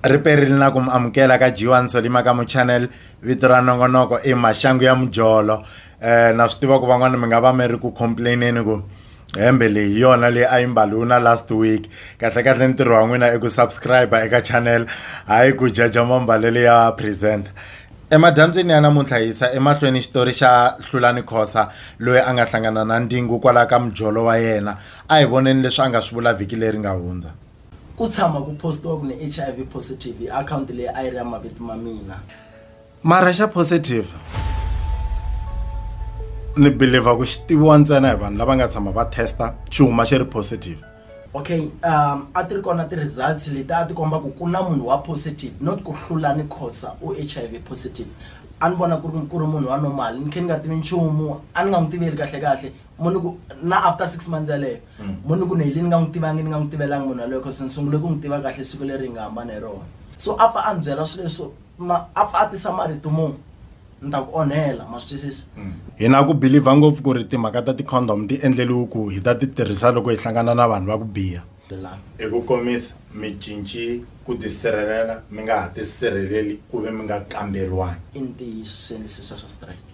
ri perile na ku mi amukela ka G1 Solima ka mu channel vito ra nongonoko i maxangu ya mujolo eh na swi tiva ku van'wana mi nga va mi ri ku complaineni ku hembe leyi yona leyi a yi mbaliwi na last week kahle kahle ntirho wa n'wina i ku subscribe eka channel hayi ku jaja mambalelo ya presenter emadyambyini ya namuntlha hi yisa emahlweni xitori xa hlulani khosa loyi a nga hlangana na ndingu kwalaya ka mujolo wa yena a hi voneni leswi a nga swi vula vhiki leri nga hundza Ku tshama ku postiwa ku ni HIV positive hi akhawunti leyi a yi ri ya mavito ma mina. Mara xa positive ni believer ku xi tiviwa ntsena hi vanhu lava nga tshama va testa xi huma xi ri positive. Okay um a ti ri kona ti-results leti a ti komba ku ku na munhu wa positive not ku hlula ni Khoza u H_I_V positive a ni vona ku ri ku ri munhu wa normal ni khe ni nga tivi nchumu a ni nga n'wi tiveli kahlekahle mo ni ku na after six months yaleyo mm. mo ni ku ni heli ni nga n'wi tivangi ni nga n'wi tivelanga munhu yaloyo cause ni sungule ku n'wi tiva kahle siku leri hi nga hambana hi rona so a pfa a ni byela swilo leswo a pfa a tisa marito mo ni ta ku onhela ma swi twisisa mm. hi na ku believer ngopfu ku ri timhaka ta ti-condom ti endleliwe ku hi ta ti tirhisa loko hi hlangana na vanhu va ku biha Bilamu. Hi ku komisa, mi cinci ku tisirhelela mi nga ha tisirheleli ku ve mi nga kamberiwangi. I ntiyisweni sisa swa strike?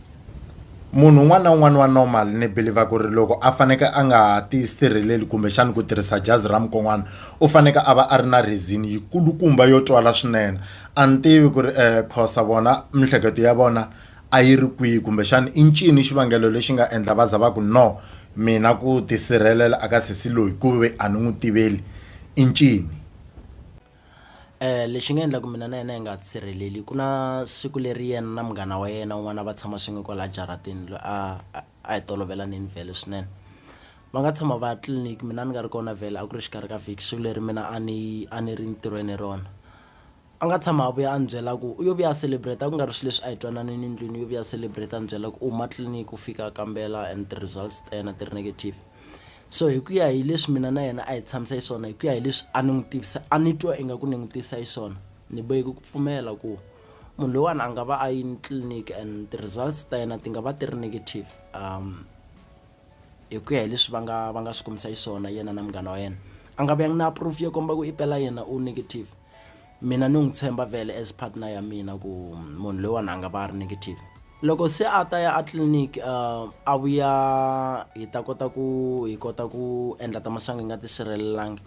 Munhu un'wana na un'wana wa normal ni believer ku ri loko a faneke a nga ha tisirheleli kumbexana ku tirhisa jazi ra mukon'wana u faneke a va a ri na reason yikulukumba yo twala swinene. A ni tivi ku ri Khosa vona miehleketo ya vona a yi ri kwihi kumbexana i ncini xivangelo lexi nga endla va za va ku no. Mina ku tisirhelela aka sesi loyi ku ve a ni n'wi tiveli i ncini? Lexi nga endla ku mina na yena hi nga tisirheleli ku na siku leri yena na munghana wa yena un'wana a va tshama swin'we kwalaya jaratini loyi a a hi tolovelaneni vhele swinene va nga tshama va ya tliliniki mina ni nga ri kona vhele a ku ri exikarhi ka vhiki siku leri mina a ni a ni ri ntirhweni hi rona. A nga tshama a vuya a ni byela ku u yo vuya a celebrate a ku nga ri swi leswi a hi twananini ndlwini u yo vuya celebrate a ni byela ku u huma tliliniki u fika a kambela and ti results ta yena ti ri negative so hi ku ya hi leswi mina na yena a hi tshamisa xiswona hi ku ya hi leswi a ni n'wi tivisa a ni twa ingaku ni n'wi tivisa xiswona ni boheki ku pfumela ku munhu loyiwani a nga va a yini tliliniki and ti results ta yena ti nga va ti ri negative um hi ku ya hi leswi va nga va nga swi kombisa xiswona yena na munghana wa yena a nga vuyanga na proof yo komba ku i pela yena u negative mina ni n'wi tshemba vele as partner ya mina ku munhu loyiwani a nga va a ri negative loko se a ta ya a clinic uh, a vuya hi ta kota ku hi kota ku endla ta masangu hi nga tisirhelelangi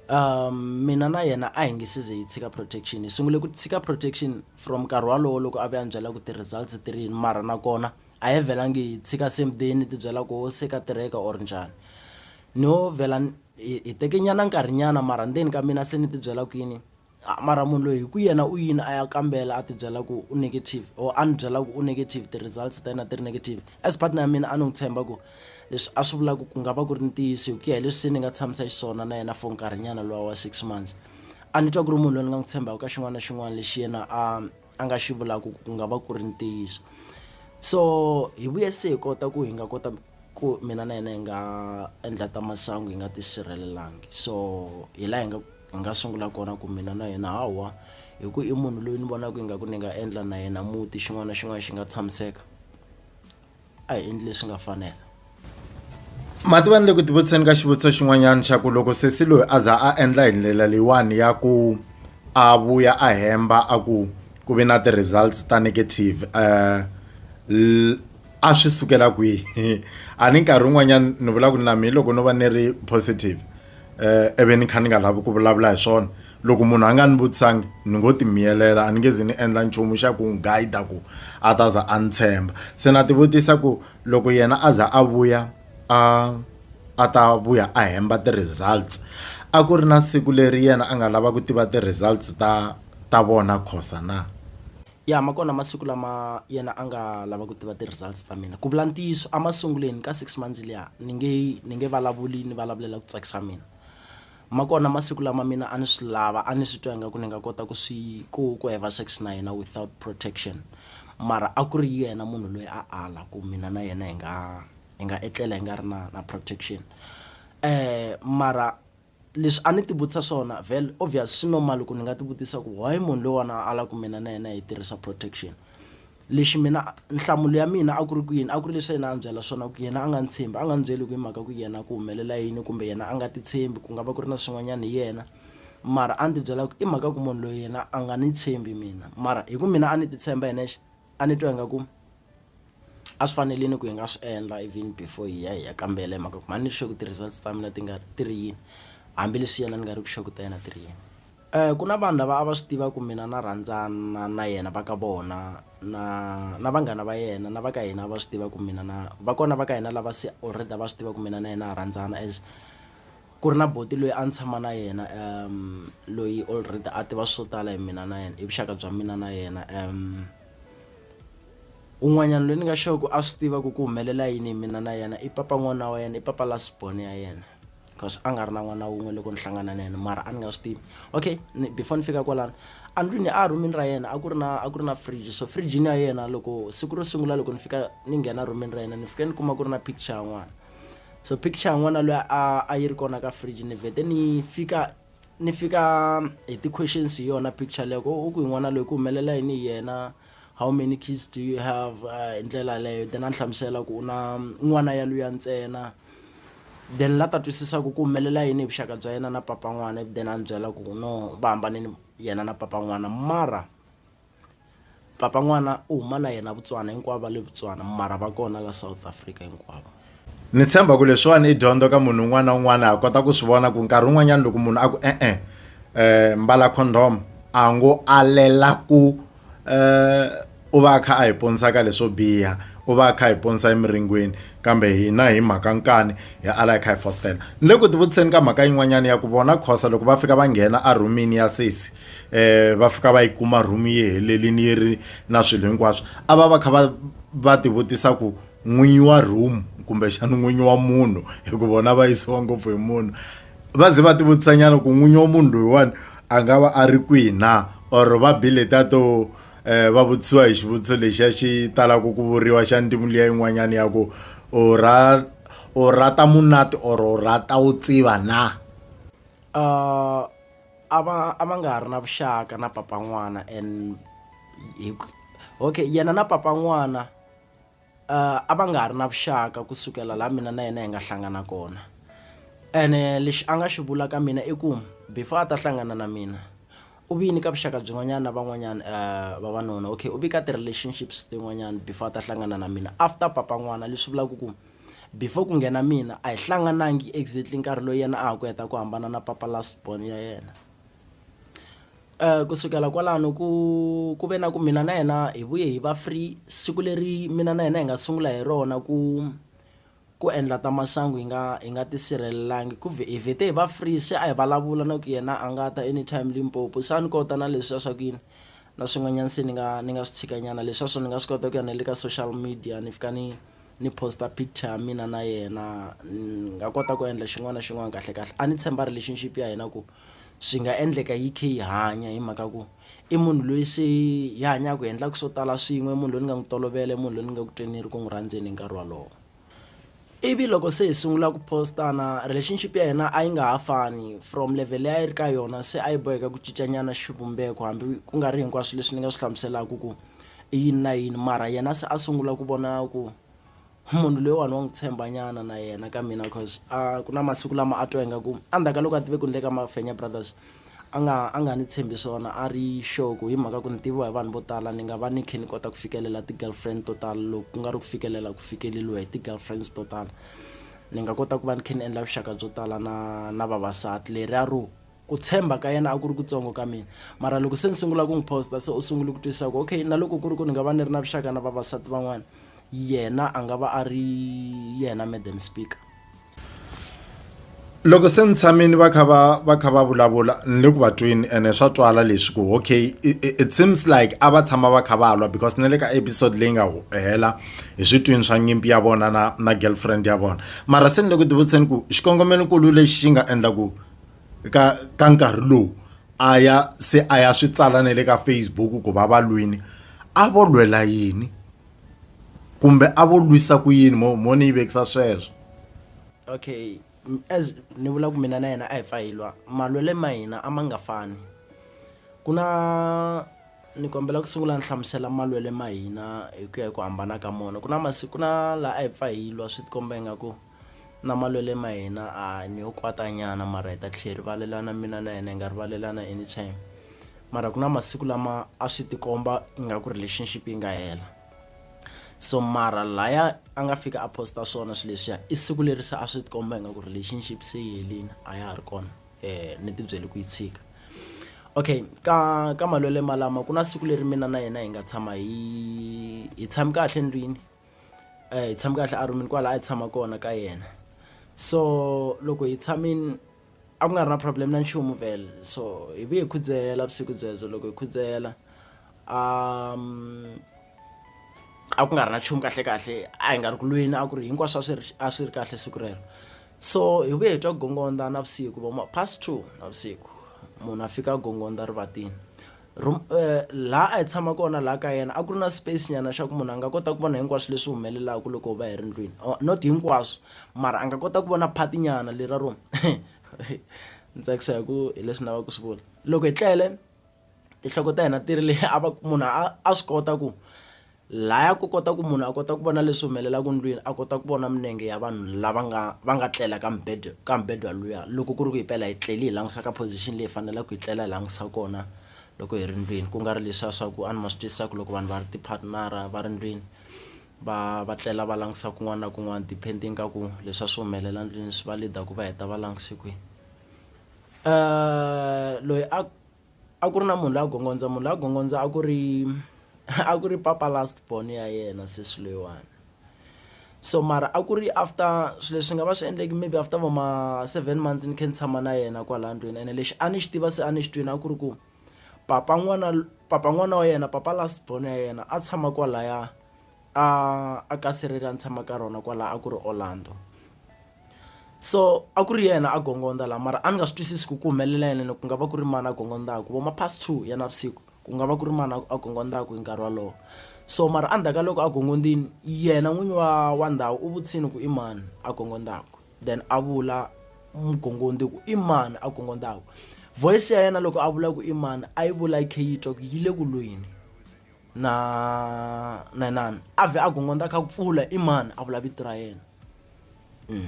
um mina na yena a hi nge size hi tshika protection hi sungule ku tshika protection from nkarhi walowo loko a ve a ni byela ku ti-results ti ri yini mara nakona a hi vhelangi hi tshika same day ni tibyela ku se ka tirheka or njhani no vhela hi teke nyana nkarhi nyana mara ndzeni ka mina se ni tibyela ku yini mara munhu loyi hi ku yena u yini a ya kambela a tibyela ku u negative or a ni byela ku u negative ti-results ta yena ti ri negative as partner ya mina a ni n'wi tshemba ku leswi a swi vulaka ku nga va ku ri ntiyiso hi ku ya hi leswi se ni nga tshamisa xiswona na yena for nkarhinyana lowa wa six months a ni twa ku ri munhu loyi ni nga n'wi tshembaka ka xin'wana na xin'wana lexi yena a a nga xi vulaka ku ku nga va ku ri ntiyiso so hi vuye se hi kota ku hi nga kota ku mina na yena hi nga endla ta masangu hi nga tisirhelelangi so hi laha hi nga hi nga sungula kona ku mina na yena hawa hi ku i munhu loyi ni vonaka ingaku ni nga endla na yena muti xin'wana na xin'wana xi nga tshamiseka a hi endli leswi nga fanela mativani le ku tivutiseni ka xivutiso xin'wanyana xa ku loko sesi loyi a za a endla hi ndlela leyiwani ya ku a vuya a hemba a ku ku ve na ti-results ta negative um a swi sukela kwihi a ni nkarhi wun'wanyani ni vula ku na me loko no va ni ri positive. um ivi ni kha ni nga lavi ku vulavula hi swona loko munhu a nga ni vutisangi ni ngo ti miyelela a ni nge zi ni endla nchumu xa ku n'wi guide ku a ta za a ni tshemba se na tivutisa ku loko yena a za a vuya a a ta vuya a hemba ti-results a ku ri na siku leri yena a nga lava ku tiva ti-results ta ta vona khosa na. Ya ma kona masiku lama yena a nga lava ku tiva ti-results ta mina ku vula ntiyiso emasungulweni ka six months liya ni nge ni nge vulavuli ni vulavulela ku tsakisa mina ma kona masiku lama mina a ni swi lava a ni swi twa ingaku ni nga kota ku swi ku ku heva sex na yena without protection mara a ku ri yena munhu loyi a ala ku mina na yena hi nga hi nga etlela hi nga ri na na protection mara Leswi a ni ti vutisa swona, vhel obvious swi normal ku ni nga ti vutisa ku why munhu loyiwana a la ku mina na yena hi tirhisa protection. Lexi mina nhlamulo ya mina a ku ri ku yini, a ku ri leswi a yena a ni byela swona ku yena a nga ni tshembi, a nga ni byeli ku hi mhaka ku yena ku humelela yini kumbe yena a nga ti tshembi ku nga va ku ri na swin'wanyana hi yena mara a ni ti byela ku i mhaka ku munhu loyi yena a nga ni tshembi mina mara hi ku mina a ni ti tshemba hi nexe a ni twa ingaku a swi fanelini ku hi nga swi endla even before hi ya hi ya kambela hi mhaka ku mhani ni sure ku ti-results ta mina ti nga ti ri yini hambileswi yena ni nga ri ku sure ku ta yena ti ri yini um ku na vanhu lava a va swi tiva ku mina na rhandzana na yena va ka vona na na vanghana va yena na va ka hina va swi tiva ku mina na va kona va ka hina lava se already a va swi tiva ku mina na yena ha rhandzana as Ku ri na buti loyi a ni tshama na yena loyi already a tiva swo tala hi mina na yena hi vuxaka bya mina na yena un'wanyana loyi ni nga sure ku a swi tiva ku ku humelela yini hi mina na yena i papa n'wana wa yena i papa last born ya yena cause a nga ri na n'wana wun'we loko ni hlangana na yena mara a ni nga swi tivi okay ni before ni fika kwalano a ndlwini a rhumini ra yena a ku ri na a ku ri na fridge so fridge-ini ya yena loko siku ro sungula loko ni fika ni nghena rhumini ra yena ni fike ni kuma ku ri na picture ya n'wana. so picture yin'wana loyi a a yi ri kona ka fridge ni vhete ni fika ni fika hi ti-questions hi yona picture leyo ku u ku yin'wana loyi ku humelela yini hi yena how many kids do you have uh, hi ndlela leyo then a ni hlamusela ku u na n'wana ya luya ntsena then la ta twisisa ku ku humelela yini hi vuxaka bya yena na papa n'wana then a ni byela ku no va hambanini yena na papa n'wana mara Papa n'wana u huma na yena Botswana hinkwavo va le Botswana mara va kona la South Africa hinkwavo ni tshemba ku leswiwani i dyondzo ka munhu un'wana na un'wana a kota ku swi vona ku nkarhi wun'wanyana loko munhu a ku e-e um mbala condom a ngo alela ku um u va a kha a hi ponisa ka leswo biha u va a kha a hi ponisa emiringweni kambe hina hi mhaka nkani hi ala hi kha hi fositela ni le ku tivutiseni ka mhaka yin'wanyana ya ku vona khosa loko va fika va nghena a rhumini ya sesi eh va fika va yi kuma room yi helelini yi ri na swilo hinkwaswo a va va kha va va tivutisa ku n'winyi wa room kumbexana n'winyi wa munhu hi ku vona va yisiwa ngopfu hi munhu va ze va tivutisa nyana ku n'winyi wa munhu loyiwani a nga va a ri kwihi na or va bile ta to um va vutisiwa hi xivutiso lexiya xi talaka ku vuriwa xa ntimu liya yin'wanyana ya ku u ra u rata munati or u rata u tsiva na um a va a va nga ha ri na vuxaka na papa n'wana and hi okay yena na papa n'wana uh, a va nga ha ri na vuxaka kusukela laha mina na yena hi nga hlangana kona ene lexi a nga xi vula ka mina i ku before a ta hlangana na mina u vi nyika vuxaka byin'wanyana na van'wanyana uh, vavanuna okay u vi ka ti-relationships tin'wanyana before a ta hlangana na mina after papa n'wana leswi vulaka ku Before ku nghena mina a hi hlanganangi exactly nkarhi loyi yena a ha ku heta ku hambana na papa last born ya yena ku sukela kwalano ku ku ve na ku mina na yena hi vuye hi va free siku leri mina na yena hi nga sungula hi rona ku ku endla ta masangu hi nga hi nga tisirhelelangi ku hi vhete hi va free se a hi vulavula na ku yena a nga ta anytime Limpopo se a ni kota na leswiya swa ku yini na swin'wanyana se ni nga ni nga swi tshikanyana leswiya swo ni nga swi kota ku ya na le ka social media ni fika ni. ni post-a picture ya mina na yena ni nga kota ku endla xin'wana na xin'wana kahlekahle a ni tshemba relationship ya hina ku swi nga endleka yi khe yi hanya hi mhaka ku i munhu loyi se hi hanyaku hi endlaku swo tala swin'we munhu loyi ni nga n'wi tolovela i munhu loyi ni nga ku tweni ni ri ku n'wi rhandzeni hi nkarhi walowo ivi loko se hi sungula ku post-ana relationship ya hina a yi nga ha fani from level leyi a yi ri ka yona se a yi boheka ku cincanyana xivumbeko hambi ku nga ri hinkwaswo leswi ni nga swi hlamuselaku ku i yini na yini mara yena se a sungula ku vona ku munhu loyiwani wa n'wi tshembanyana na yena ka mina cause a ku na masiku lama a twa ingaku endzhaku ka loko a tive ku ni le ka mafenya brothers a nga a nga ni tshembi swona a ri sure ku hi mhaka ku ni tiviwa hi vanhu vo tala ni nga va ni kha ni kota ku fikelela ti-girlfriend to tala loko ku nga ri ku fikelela ku fikeleliwa hi ti-girlfriends to tala ni nga kota ku va ni kha ni endla vuxaka byo tala na na vavasati leri a ro Ku tshemba ka yena a ku ri kutsongo ka mina. Mara loko se ni sungula ku n'wi post-a se u sungule ku twisisa ku okay na loko ku ri ku ni nga va ni ri na vuxaka na vavasati van'wana yena a nga va a ri yena madam speaker. Loko se ni tshame ni va kha va va kha va vulavula ni le ku va tweni ene swa twala leswi ku okay it seems like a va tshama va kha va lwa because na le ka episode leyi nga hela hi swi twini swa nyimpi ya vona na na girlfriend ya vona mara se ni le ku tivutiseni ku xikongomelokulu lexi xi nga endla ku ka ka nkarhi lowu a ya se a ya swi tsala na le ka Facebook ku va va lwini a vo lwela yini kumbe a vo lwisa ku yini mo mo ni yi vekisa sweswo okay as ni vula ku mina na yena a hi pfa hi lwa malwele ma hina a ma nga fani ku na ni kombela ku sungula ni hlamusela malwele ma hina hi ku ya hi ku hambana ka mona ku na masiku na laha a hi pfa hi lwa swi tikomba ingaku Na malwele ma hina a ni yo kwata nyana mara hi ta tlhe hi rivalelana mina na yena hi nga rivalelana anytime mara ku na masiku lama a swi ti komba ingaku relationship yi nga hela so mara laya a nga fika a post-a swona swi leswiya i siku leri se a swi ti komba ingaku relationship se yi helini a ya ha ri kona ni ti byele ku yi tshika okay ka ka malwele malama ku na siku leri mina na yena hi nga tshama hi hi tshami kahle ndlwini. eh, hi tshame kahle arumini kwala a hi tshama kona ka yena so loko hi tshamini a ku nga ri na problem na nchumu vele so hi vuye hi khudzela vusiku byebyo loko hi khudzela um a ku nga ri na nchumu kahle kahle a hi nga ri ku lweni a ku ri hinkwaswo a swi ri a swi ri kahle siku rero so hi vuye hi twa gongonda na vusiku voma past two na vusiku munhu a fika gongonda rivatini Room laha a hi tshama kona laha ka yena a ku ri na space nyana xa ku munhu a nga kota ku vona hinkwaswo leswi humelelaku loko hi va hi ri ndlwini or not hinkwaswo mara a nga kota ku vona part nyana le ra room ni tsakisa hi ku hi leswi ni lava ku swi vula loko hi tlele tinhloko ta hina ti ri le a va munhu a a swi kota ku. Laya ku kota ku munhu a kota ku vona leswi humelelaka ndlwini a kota ku vona minenge ya vanhu lava nga va nga tlela ka mubedwa ka mubedwa luya loko ku ri ku hi pela hi tleli hi langusa ka position leyi hi fanelaka hi tlela hi langusa kona loko hi ri ndlwini ku nga ri leswiya swa ku a ni ma swi twisisa ku loko vanhu va ri ti-partner-a va ri ndlwini va va tlela va langusa kun'wana na kun'wana depending ka ku leswi a swi humelela ndlwini swi va leader ku va heta va languse kwihi loyi a. a ku ri na munhu la gongondza munhu la gongondza a ku ri a ku ri papa last born ya yena sesi loyiwani so mara a ku ri after swilo leswi nga va swi endleki maybe after vo ma seven months ni kha ni tshama na yena kwala ndlwini ene lexi a ni xi tiva se a ni xi twini a ku ri ku papa n'wana papa n'wana wa yena papa last born ya yena a tshama kwalaya a a ka sirhele a ni tshama ka rona kwala a ku ri Orlando. so a ku ri yena a gongondza laha mara a ni nga swi twisisi ku ku humelela yena ku nga va ku ri mani a gongondzaku vo ma past two ya navusiku ku nga va ku ri mani a gongondzaku hi nkarhi wolowo so mara endzhaku ka loko a gongondzini yena n'winyi wa wa ndhawu u vutisini ku i mani a gongondzaku then a vula mugongondzi ku i mani a gongondzaku voice ya yena loko a vula ku i mani a yi vula yi kha yi twa ku yi le ku lweni na na inani a vhe a gongonda kha pfula i mani a vula vito ra yena mm.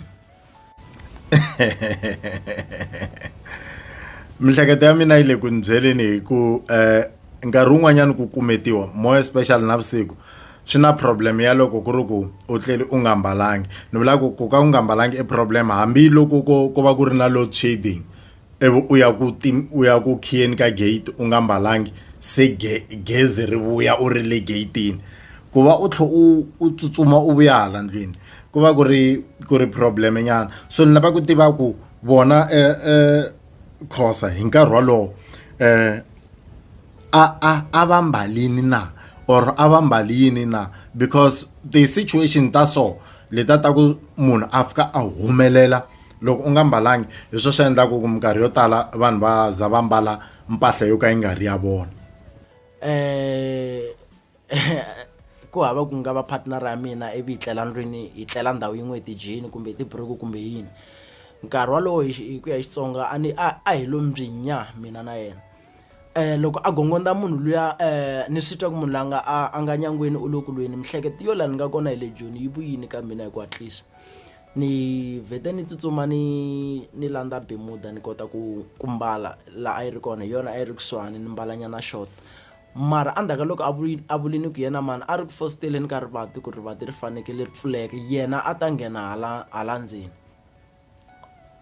mihleketo ya mina yi le ku ni byeleni hi ku um nkarhi wun'wanyana ku kumetiwa more especially na vusiku swi na problem ya loko ku ri ku u tleli u nga mbalangi ni vula ku ku ka u nga mbalangi i problem hambiloko ko ko va ku ri na load shading ivi u ya ku ti u ya ku khiyeni ka gate u nga mbalanga se ge gezi ri vuya u ri le gate-ini ku va u tlhe u u tsutsuma u vuya hala ndlwini ku va ku ri ku ri problem nyana so ni lava ku tiva ku vona Khoza hi nkarhi wolowo a a a va mbalini na or a va mbali yini na because ti-situation ta so leta ta ku munhu a fika a humelela. Loko u nga mbalangi, hi swona swi endlaka ku minkarhi yo tala vanhu va za va mbala mpahla yo ka yi nga ri ya vona. ku hava ku nga va partner ya mina ivi hi tlela ndlwini hi tlela ndhawu yin'we hi tijini kumbe hi tiburuku kumbe yini nkarhi wolowo hi hi ku ya hi Xitsonga a ni a a hi lo mbhinya mina na yena loko a gongondza munhu luya ni swi twa ku munhu la nga a a nga nyangweni u le ku lweni miehleketo yo laha ni nga kona hi le joni yi vuyile ka mina hi ku hatlisa Ni vhete ni tsutsuma ni ni landza Bemuda ni kota ku ku mbala la a yi ri kona hi yona a yi ri kusuhani ni mbala nyana short mara a ndzhaka loko a vuli a vuli ni ku yena mhani a ri ku fositeleni ka rivati ku rivati ri fanekele ri pfuleka yena a ta nghena hala hala ndzeni.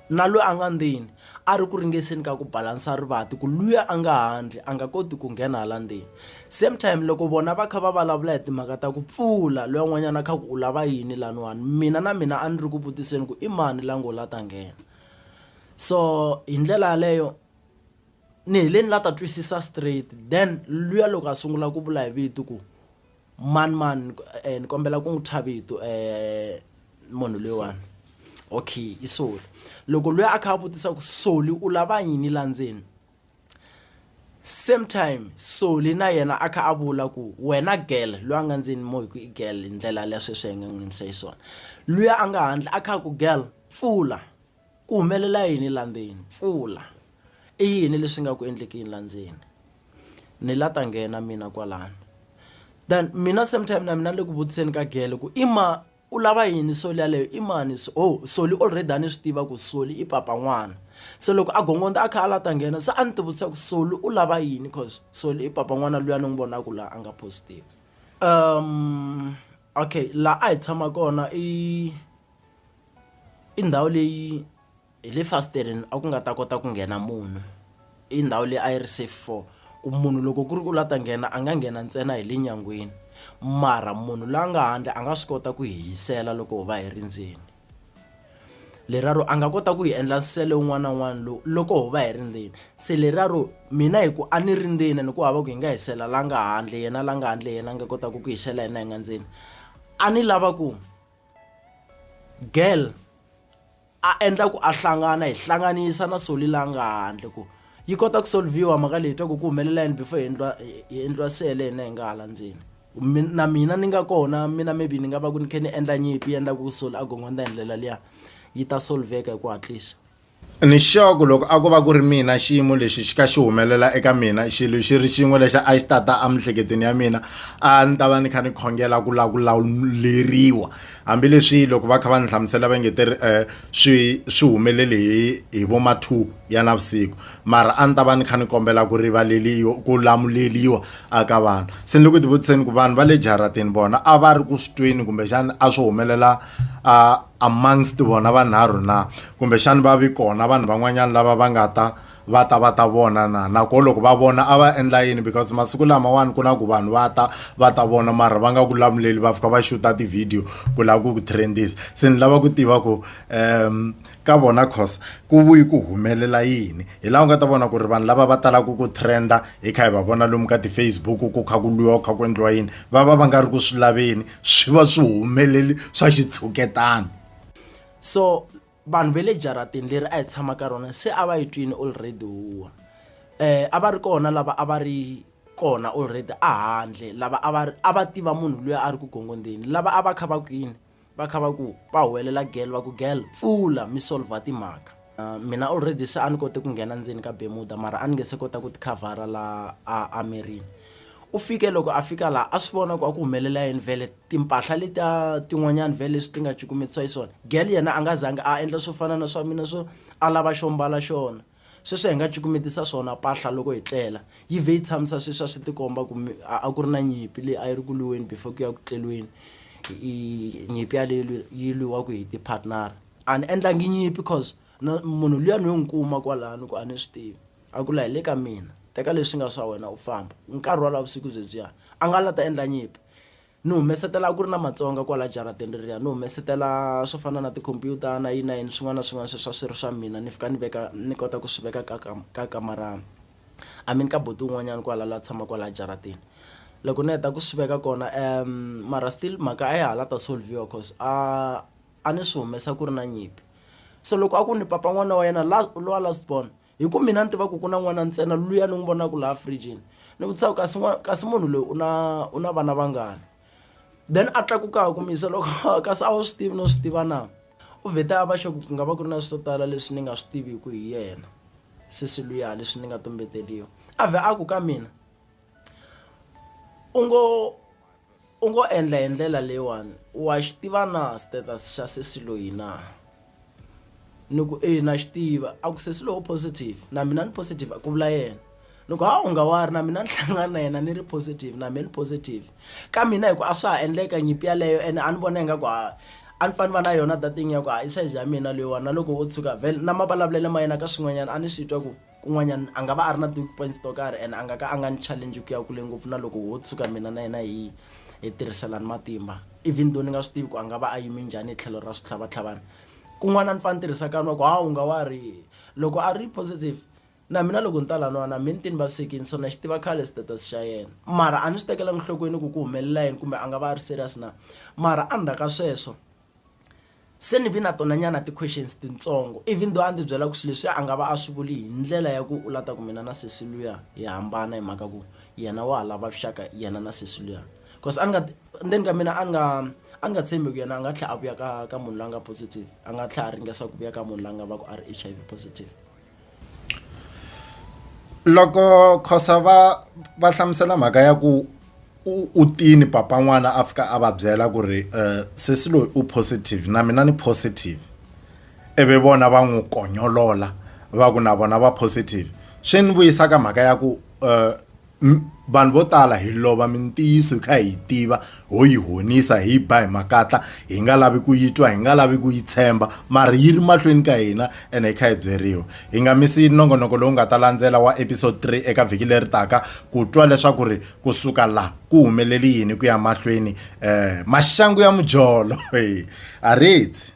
na loyi a nga ndzeni a ri ku ringeseni ka ku balansa rivati ku luya a nga handle a nga koti ku nghena hala ndzeni same time loko vona va kha va vulavula hi timhaka ta ku pfula loyi n'wanyana a kha ku u lava yini laniwani mina na mina a ni ri ku vutiseni ku i mani la ngo la ta nghena so hi ndlela yaleyo ni heleni la ta twisisa straight then luya loko a sungula ku vula hi vito ku Mani mani ni kombela ku n'wi thya vito munhu loyiwani okay i Soli loko loyi a kha a vutisa ku Soli u lava yini la ndzeni same time Soli na yena a kha a vula ku wena girl loyi a nga ndzeni mo hi ku i girl hi ndlela ya sweswi hi nga n'wi yimisa xiswona luya a nga handle a kha a ku girl pfula. Ku humelela yini la ndzeni? Pfula. I yini leswi nga ku endlekini la ndzeni? Ni la ta nghena mina kwalano. Then mina same time na mina ni le ku vutiseni ka gele ku i ma u lava yini soli yaleyo i mani so oh soli already a ni swi tiva ku soli i papa n'wana se loko a gongondza a kha a la ta nghena se a ni ti vutisa ku soli u lava yini cause soli i papa n'wana luya ni n'wi vonaka laha a nga positive um okay laha a hi tshama kona i I ndhawu leyi hi le fasitireni a ku nga ta kota ku nghena munhu i ndhawu leyi a yi ri safe for ku munhu loko ku ri ku la ta nghena a nga nghena ntsena hi le nyangweni mara munhu la nga handle a nga swi kota ku hi hisela loko hi va hi ri ndzeni leriya ro a nga kota ku hi endla nsele wun'wana na wun'wana lowu loko ho va hi ri ndzeni se leriya ro mina hi ku a ni ri ndzeni ni ku hava ku hi nga hi sela la nga handle yena la nga handle yena a nga kotaka ku hi xela hina hi nga ndzeni a ni lava ku girl a endla ku a hlangana hi hlanganisa na soli la nga handle ku yi kota ku solviwa mhaka leyi twa ku ku humelela yini before hi endliwa hi endliwa sele hina hi nga hala ndzeni na mina ni nga kona mina maybe ni nga va ku ni kha ni endla nyimpi yi endla ku soli a gongondza hi ndlela liya yi ta solveka hi ku hatlisa Nixoku loko a ko va ku ri mina xiyimo lexi xi ka xi humelela eka mina xilo xi ri xin'we lexi a xi tata emiehleketweni ya mina a ni ta va ni kha ni khongela ku lava ku lawuleriwa hambileswi loko va kha va ni hlamusela va nge te ri um swi swi humelele hi hi vo ma two ya navusiku mara a ni ta va ni kha ni kombela ku rivaleriwa ku lamuleriwa a ka vanhu se ni le ku ti vutiseni ku vanhu va le jaratini vona a va ri ku swi tweni kumbexana a swi humelela a. amongst vona vanharhu na kumbexani va vi kona vanhu van'wanyana lava va nga ta va ta va ta vona na nako loko va vona a va endla yini because masiku lamawani ku na ku vanhu va ta va ta vona mara va nga ku lamuleli va fika va xuta tivhidiyo ku lava ku ku trendisa se ni lava ku tiva ku um ka vona cause ku vuyi ku humelela yini hi laha u nga ta vona ku ri vanhu lava va talaka ku trenda hi kha hi va vona lomu ka ti-facebook ku kha ku lwiwa ku kha ku endliwa yini va va va nga ri ku swi laveni swi va swi humeleli swa xitshuketana so vanhu va le jaratini leri a hi tshama ka rona se a va yi twini already huwa um a va ri kona lava a va ri kona already a handle lava a va a va tiva munhu loyi a ri ku gongondzeni lava a va kha va kwini va kha va ku va huwelela gel va ku gel pfula mi solver timhaka mina already se a ni kote ku nghena ndzeni ka bemuda mara a ni nge se kota ku tikhavhara laha a amerini u fike loko a fika laha a swi vona ku a ku humelela yini vhele timpahla leti a tin'wanyani vhele leswi ti nga cukumetisiwa yi swona gel yena a nga zangi a endla swo fana na swa mina swo a lava xo mbala xona sweswi hi nga cukumetisa swona pahla loko hi tlela yi vhe yi tshamisa sweswi a swi tikomba ku a ku ri na nyimpi leyi a yi ri ku lwiweni before ku ya ku tleliweni nyimpi yaleyo yi lwiwaku hi ti-partner a ni endlangi nyimpi cause na munhu luya ni yo n'wi kuma kwalano ku a ni swi tivi a ku la hi le ka mina teka leswi nga swa wena u famba nkarhi wala vusiku byebyiya a nga la ta endla nyimpi ni humesetela a ku ri na matsonga kwala jarateni reriya ni humesetela swo fana na tikhompyuta na yini na yini swin'wana na swin'wana sweswi a swi ri swa mina ni fika ni veka ni kota ku swi veka ka ka ka kamara i mean ka buti un'wanyana kwala la tshama kwala jaratini loko ni heta ku swi veka kona um mara still mhaka a ya ha la ta solve-iwa cause a a ni swi humesa ku ri na nyimpi so loko a ku ni papa n'wana wa yena lowa last born hi ku mina ni tiva ku ku na n'wana ntsena luya ni n'wi vonaka laha fridgini ni vutisa ku kasi kasi munhu loyi u na u na vana vangani then a tlakuka ku misa loko kasi a wu swi tivi no swi tiva na u vhete a va xoku ku nga va ku ri na swo tala leswi ni nga swi tiviku hi yena sesi luya leswi ni nga tumbeteriwa a vhe a ku ka mina u ngo u ngo endla hi ndlela leyiwani wa xi tiva na status xa sesi loyi na ni ku e na xi tiva a ku sesi lowu positive na mina ni positive a ku vula yena ni ku ha u nga wa ri na mina ni hlangana na yena ni ri positive na mina ni positive ka mina hi ku a swa ha endleka nyimpi yeleyo ene a ni vona ingaku ha a ni fanele va na yona that thing ya ku ha i size ya mina leyiwani na loko wo tshuka vhele na mavulavulelo ma yena ka swin'wanyana a ni swi twa ku. kun'wanyana a nga va a ri na ti-weak points to karhi and a nga ka a nga ni challenge ku ya kule ngopfu na loko ho tshuka mina na yena hi hi tirhiselana matimba even though ni nga swi tivi ku a nga va a yime njhani hi tlhelo ra switlhavatlhavana kun'wana a ni fanele ni tirhisa kani wa ku hawu nga wa ri loko a ri positive na mina loko ni ta laniwana mi ni ti ni vavisekini so na xi tiva khale status xa yena mara a ni swi tekelanga enhlokweni ku ku humelela yini kumbe a nga va a ri serious na mara endzhaku ka sweswo Se ni vi na tona nyana ti questions tintsongo even though a ndzi byela ku swilo leswi a nga va a swi vuli hi ndlela ya ku u la ta ku mina na sesi luya hi hambana hi mhaka ku yena wa ha lava vuxaka yena na sesi luya cause a ni nga ndzeni ka mina a ni nga a ni nga tshembi ku yena a nga tlhela a vuya ka ka munhu la nga positive a nga tlhela a ringesa ku vuya ka munhu la nga va ku a ri H_I_V positive. Loko Khosa va va hlamusela mhaka ya ku u u tini papa n'wana a fika a va byela ku ri sesi loyi u positive na mina ni positive ivi vona va n'wi konyolola va ku na vona va positive swi ni vuyisa ka mhaka ya ku . vanhu vo tala hi lova mintiyiso hi kha hi yi tiva ho yi honisa hi yi ba hi makatla hi nga lavi ku yi twa hi nga lavi ku yi tshemba mara yi ri mahlweni ka hina ene hi kha hi byeriwa hi nga misi nongonoko lowu nga ta landzela wa episode 3 eka vhiki leri taka ku twa leswaku ri kusuka la ku humeleli yini ku ya mahlweni um maxangu ya mujolo a ritsi